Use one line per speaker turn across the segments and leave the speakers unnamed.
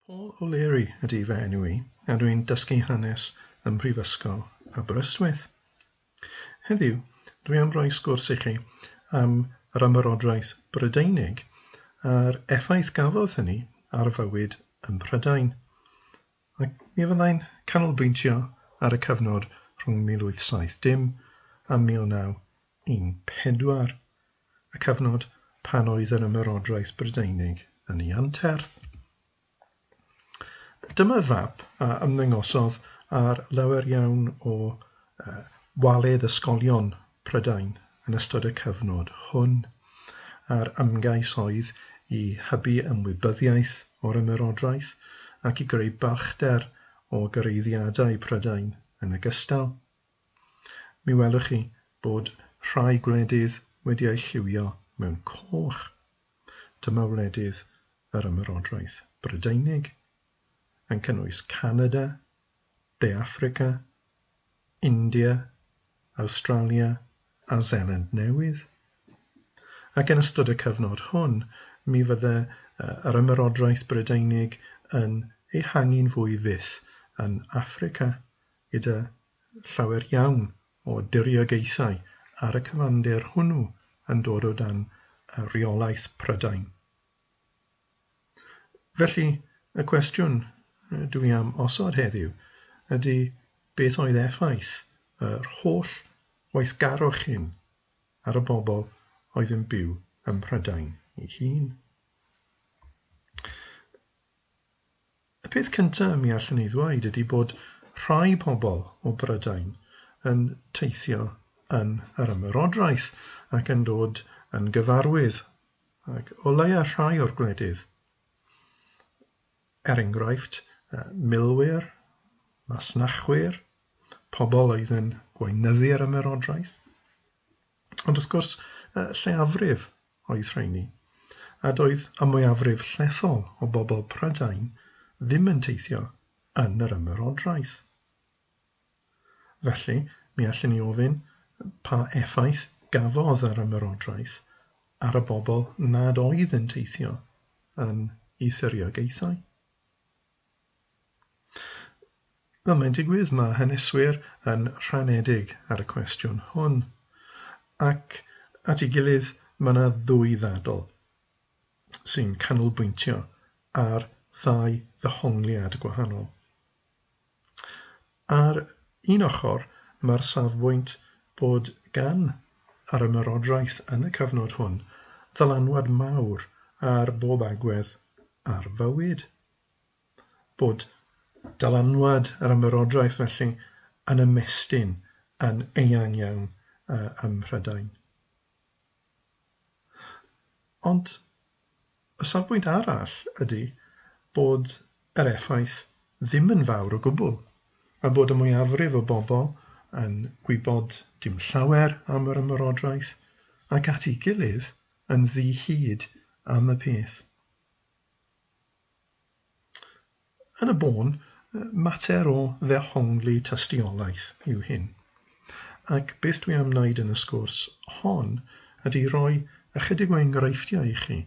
Paul O'Leary ydy fy enw i a dwi'n dysgu hanes ym Mhrifysgol Aberystwyth. Heddiw, dwi am roi sgwrs i chi am yr Ymerodraeth Brydeinig a'r effaith gafodd hynny ar fywyd ym Mhrydain. Ac mi fyddai'n canolbwyntio ar y cyfnod rhwng 1870 a 1914. y cyfnod pan oedd yr Ymerodraeth Brydeinig yn ei anterth. Dyma fap a ymddangosodd ar lawer iawn o waledd ysgolion Prydain yn ystod y cyfnod hwn, a'r ymgais oedd i hybu ymwybyddiaeth o'r Ymerodraeth ac i greu balchder o gyreiddiadau Prydain yn ogystal. Mi welwch chi bod rhai gwledydd wedi eu lliwio mewn coch. Dyma wledydd yr Ymerodraeth Brydeinig, yn cynnwys Canada, De Affrica, India, Awstralia a Seland Newydd. Ac yn ystod y cyfnod hwn, mi fydde yr Ymerodraeth Brydeinig yn ehangu'n fwy fyth yn Affrica gyda llawer iawn o diriogaethau ar y cyfandir hwnnw yn dod o dan reolaeth Prydain. Felly, y cwestiwn dw i am osod heddiw ydy beth oedd effaith yr holl weithgarwch hyn ar y bobl oedd yn byw ym Mhrydain ei hun? Y peth cyntaf mi allwn ei ddweud ydy bod rhai pobl o Brydain yn teithio yn yr Ymerodraeth ac yn dod yn gyfarwydd, ac o leia rhai o'r gwledydd, er enghraifft, milwyr, masnachwyr, pobl oedd yn gweinyddu yr Ymerodraeth. Ond wrth gwrs, y lleiafrif oedd rheiny, a doedd y mwyafrif llethol o bobl Prydain ddim yn teithio yn yr Ymerodraeth. Felly, mi allwn ni ofyn pa effaith gafodd yr Ymerodraeth ar y bobl nad oedd yn teithio yn ei thiriogaethau. Wel, mae'n digwydd mae haneswyr yn rhanedig ar y cwestiwn hwn. Ac at ei gilydd, mae yna ddwy ddadl sy'n canolbwyntio ar ddau ddehongliad gwahanol. Ar un ochr, mae'r safbwynt bod gan yr ymerodraeth yn y cyfnod hwn ddylanwad mawr ar bob agwedd ar fywyd bod dylanwad yr Ymerodraeth felly yn ymestyn yn eang iawn ym Mhrydain. Ond y safbwynt arall ydy bod yr effaith ddim yn fawr o gwbl, a bod y mwyafrif o bobl yn gwybod dim llawer am yr Ymerodraeth ac at ei gilydd yn ddi-hid am y peth. Yn y bôn, mater o ddehongli tystiolaeth yw hyn, ac beth dwi am wneud yn y sgwrs hon ydy rhoi ychydig o enghreifftiau i chi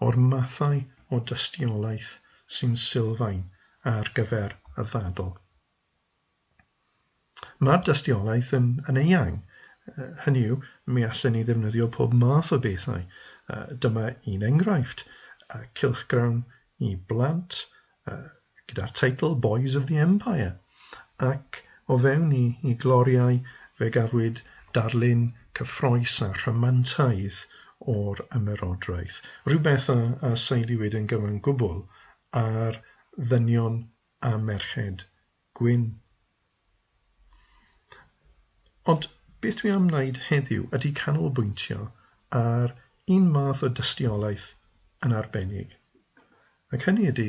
o'r mathau o dystiolaeth sy'n sylfaen ar gyfer y ddadl. Mae'r dystiolaeth yn, yn eang. Hynny yw, mi allen ni ddefnyddio pob math o bethau. Dyma un enghraifft, cylchgrawn i blant gyda'r teitl Boys of the Empire, ac o fewn i, i gloriau fe gafwyd darlun cyffroes a rhamantaidd o'r Ymerodraeth, rhywbeth a, a seiliwyd yn gyfan gwbl ar ddynion a merched gwyn. Ond beth dwi am wneud heddiw ydy canolbwyntio ar un math o dystiolaeth yn arbennig, ac hynny ydy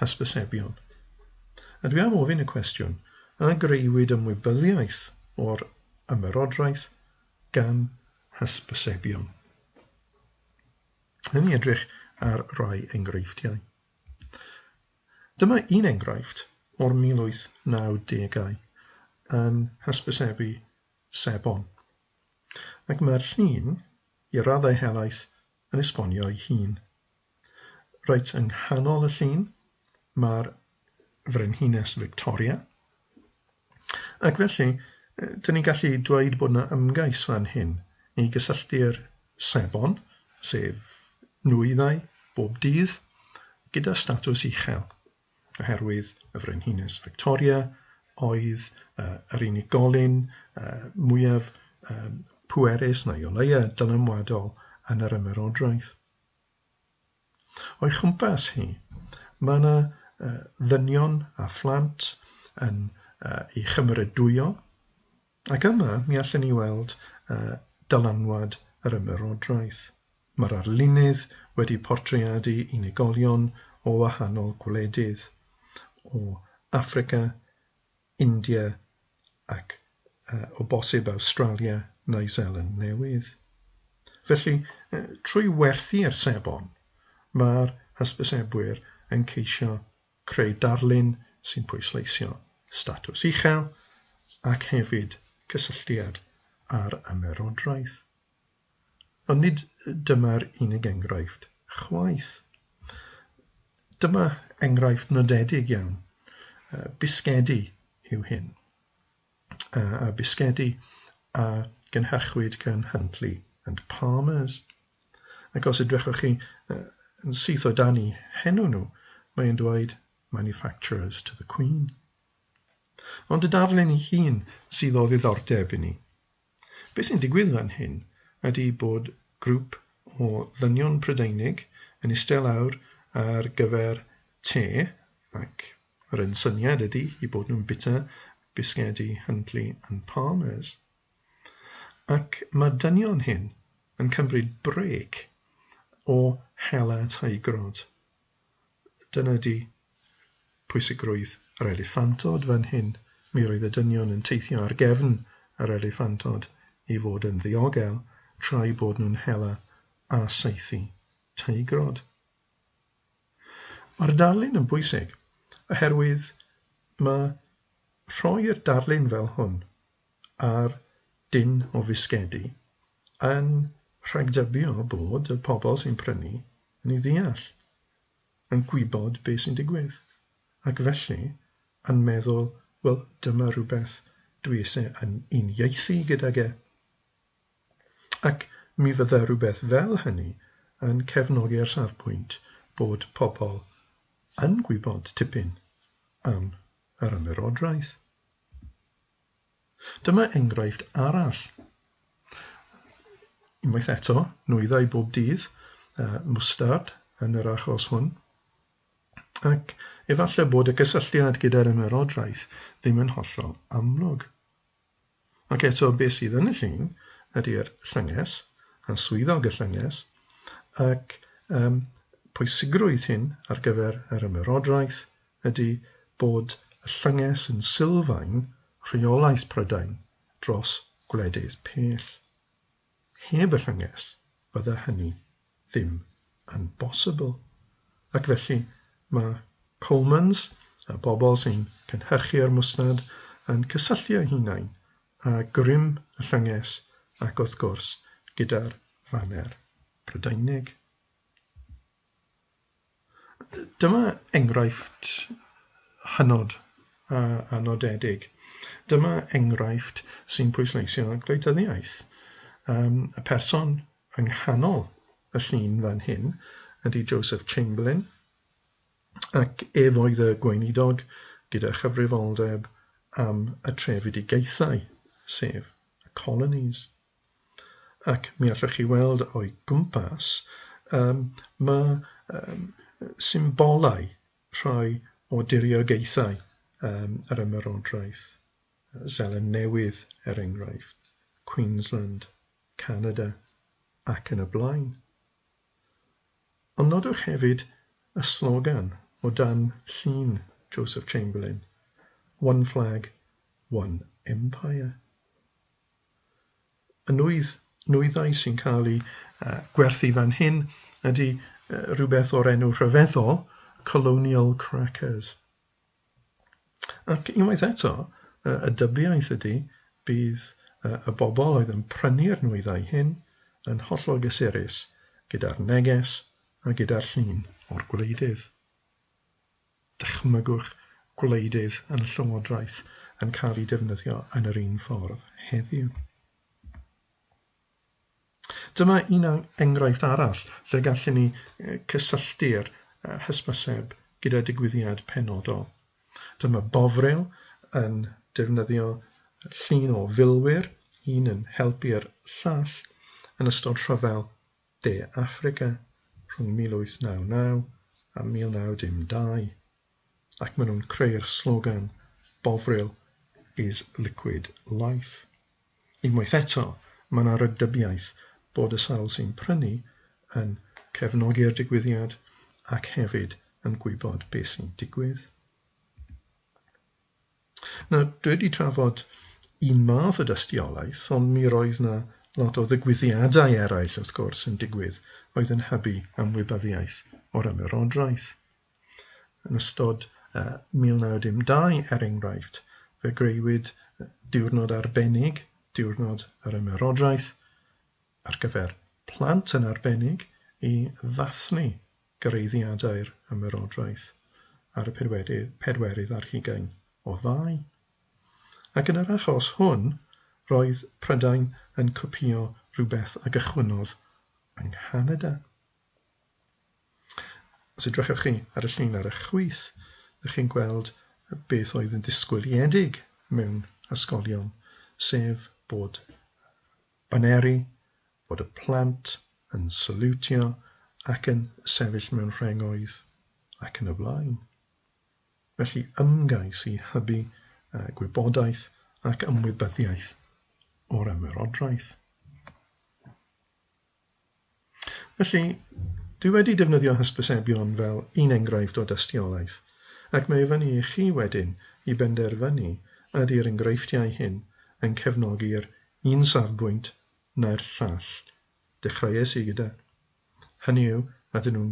hysbysebion. A dwi am ofyn y cwestiwn, a greuwyd ymwybyddiaeth o'r ymerodraeth gan hysbysebion? Yn ni edrych ar rai enghreifftiau. Dyma un enghraifft o'r 1890au yn hysbysebu sebon, ac mae'r llun, i raddau helaeth, yn esbonio'i hun. Reit yng nghanol y llun, mae'r Frenhines Victoria, Ac felly, dyn ni'n gallu dweud bod yna ymgais fan hyn i gysylltu'r sebon, sef nwyddau bob dydd, gyda statws uchel, oherwydd y Frenhines Victoria oedd uh, yr unigolyn uh, mwyaf uh, pwerus neu o leia dylanwadol yn yr ymerodraeth. O'i chwmpas hi, mae yna ddynion a phlant yn ei chymeradwyo, ac yma mi allen ni weld dylanwad yr Ymerodraeth. Mae'r arlunydd wedi portreadu unigolion o wahanol gwledydd, o Affrica India ac, o bosib, Awstralia neu Seland Newydd. Felly, trwy werthu'r sebon, mae'r hysbysebwyr yn ceisio creu darlun sy'n pwysleisio statws uchel ac hefyd cysylltiad â'r ymerodraeth. Ond nid dyma'r unig enghraifft, chwaith. Dyma enghraifft nodedig iawn. Bisgedi yw hyn. A bisgedi a gynhyrchwyd gan Huntley and Palmers. Ac os edrychwch chi yn syth o dan i henw nhw, mae e'n dweud manufacturers to the Queen. Ond y darlun ei hun sydd o ddiddordeb i ni. Be sy'n digwydd fan hyn ydi bod grŵp o ddynion Prydeinig yn iste lawr ar gyfer te ac yr un syniad ydi i bod nhw'n bita bisgedi Huntley and Palmers. Ac mae'r dynion hyn yn cymryd brêc o hela teigrod. Dyna ydi pwysigrwydd yr eliffantod fan hyn. Mi roedd y dynion yn teithio ar gefn yr eliffantod i fod yn ddiogel tra'u bod nhw'n hela a saethu teigrod. Mae'r darlun yn bwysig oherwydd mae rhoi'r darlun fel hwn a'r dyn o fisgedi yn rhagdybio bod y pobl sy'n prynu yn ei ddeall, yn gwybod beth sy'n digwydd, ac felly yn meddwl, 'Wel, dyma rhywbeth dwi eisiau yn uniaethu gydag e. Ac mi fydda rhywbeth fel hynny yn cefnogi'r safbwynt bod pobl yn gwybod tipyn am yr ymerodraeth. Dyma enghraifft arall. Unwaith eto, nwyddau bob dydd, uh, mwstard yn yr achos hwn. Ac efallai bod y cysylltiad gyda'r ymerodraeth ddim yn hollol amlwg. Ac eto, beth sydd yn y llun ydy'r llynges a swyddog y llynges ac um, pwysigrwydd hyn ar gyfer yr ymerodraeth ydy bod y llynges yn sylfaen rheolaeth Prydain dros gwledydd pell. Heb y llynges, fydde hynny ddim yn bosibl. Ac felly, mae Colemans, y bobl sy'n cynhyrchu'r mwsnad, yn cysylltu eu hunain â grym y llynges ac wrth gwrs gyda'r faner Prydeinig. Dyma enghraifft hynod a nodedig. Dyma enghraifft sy'n pwysleisio gwleidyddiaeth. Um, y person yng nghanol y llun fan hyn ydy Joseph Chamberlain, ac ef oedd y gweinidog gyda chyfrifoldeb am y trefedigaethau, sef y colonies. ac mi allwch chi weld o'i gwmpas, yym, ma' yym symbolau rhai o diriogaethau yym yr Ymerodraeth, Seland Newydd, er enghraifft, Queensland, Canada, ac yn y blaen. Ond nodwch hefyd y slogan o dan llun Joseph Chamberlain, One Flag, One Empire. y nwydd, nwyddau sy'n cael eu uh, gwerthu fan hyn ydy uh, rhywbeth o'r enw rhyfeddol Colonial Crackers. Ac unwaith eto, uh, y dybiaeth ydy bydd uh, y bobl oedd yn prynu'r nwyddau hyn yn hollol gysurus gyda'r neges a gyda'r llun o'r gwleidydd. dychmygwch gwleidydd yn y Llywodraeth yn cael eu defnyddio yn yr un ffordd heddiw. Dyma un enghraifft arall lle gallwn ni cysylltu'r hysbyseb gyda digwyddiad penodol. Dyma Bovril yn defnyddio llun o filwyr, un yn helpu'r llall, yn ystod rhyfel De Affrica rhwng 1899 a 1912, ac maen nhw'n creu'r slogan 'Bovril is liquid life'. Unwaith eto, mae yna rhagdybiaeth bod y sawl sy'n prynu yn cefnogi'r digwyddiad ac hefyd yn gwybod beth sy'n digwydd. Nawr, dwi wedi trafod un math o dystiolaeth, ond mi roedd 'na lot o ddigwyddiadau eraill, wrth gwrs, yn digwydd oedd yn hybu ymwybyddiaeth o'r Ymerodraeth. Yn ystod uh, 1912, er enghraifft, fe greuwyd diwrnod arbennig, diwrnod yr Ymerodraeth, ar gyfer plant yn arbennig i ddathlu Cyraeddiadau'r Ymerodraeth ar y pedwerydd, pedwerydd ar hugain o Fai. Ac yn yr achos hwn, roedd Prydain yn copïo rhywbeth a gychwynnodd yng Nghanada. Os edrychwch chi ar y llun ar y chwith, ydych chi'n gweld beth oedd yn ddisgwyliedig mewn ysgolion, sef bod Baneri fod y plant yn saliwtio ac yn sefyll mewn rhengoedd, ac yn y blaen. Felly ymgais i hybu gwybodaeth ac ymwybyddiaeth o'r ymerodraeth. Felly, dwi wedi defnyddio hysbysebion fel un enghraifft o dystiolaeth, ac mae i fyny i chi wedyn i benderfynu ydy'r enghreifftiau hyn yn cefnogi'r un safbwynt neu'r llall. Dechreuais i gyda hynny yw, ydyn nhw'n